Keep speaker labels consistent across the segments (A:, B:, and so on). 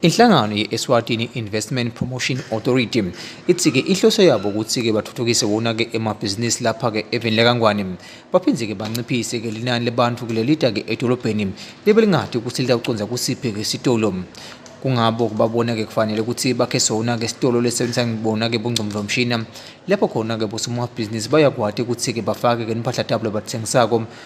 A: Inhlangano ye-Eswatini Investment Promotion Authority ithi-ke ihloso yabo ukuthi-ke bathuthukise wona-ke emabhizinisi lapha-ke eveni lakangwane baphinde-ke banciphise-ke linani lebantu kulelita-ke edolobheni libe lingadi ukuthi litawucondza kusiphi-ke sitolo kungabo kubabona-ke kufanele ukuthi bakhe sona-ke sitolo lesebenzisa ngibona-ke bungcondvomshina lapho khona-ke bosomabhizinisi bayakwati ukuthi-ke bafake-ke nimpahla tabo labathengisako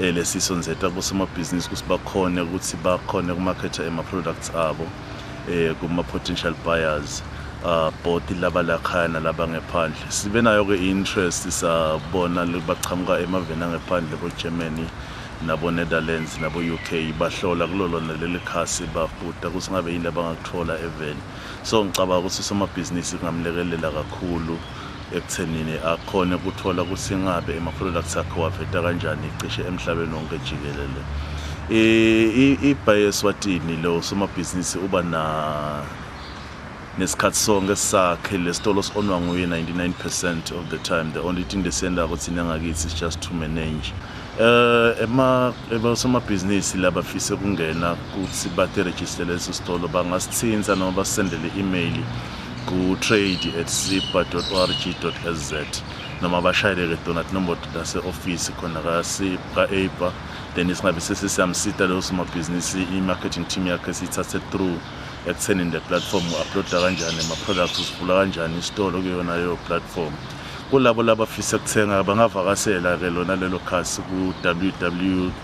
B: eh, lesiso nzeta kosomabhizinisi ukuthi bakhone ukuthi bakhone kumakhetha ema-products abo eh, kuma-potential buyers uh, both laba lakhaya nalaba ngephandle sibe nayo-ke i-interest sabona baqhamuka emaveni angephandle ko-germany nabo-netherlands nabo-u k bahlola kulo lona leli khasi babuda ukuthi ngabe yini abangakuthola eveni so ngicabanga ukuthi usomabhizinisi kungamlekelela kakhulu ekuthenini akhone kuthola ukuthi ingabe ama-products akhe waveta kanjani cishe emhlabeni wonke jikelele ibhayi eswatini lo somabhizinisi uba na nesikhathi sonke sakhe lesitolo si-onwa nguye 99 percent of the time the only thing lesiyendako thina ngakithi is just to manage um osomabhizinisi labafise ukungena kuthi batirejistele leso sitolo bangasithinta noma basisendele i-imeyili ku-trade at zipa org sz noma bashayeleke donat nombodo lase-ofisi khona ka-aipa then singabe sesisiyamsita leyo somabhizinisi i-marketing team yakhe siyithathe through ekutheni le platform u-uploada kanjani ama-products usivula kanjani isitolo kuyona leyo platform kulabo labafisa kuthenga bangavakasela-ke lona lelo khasi ku-ww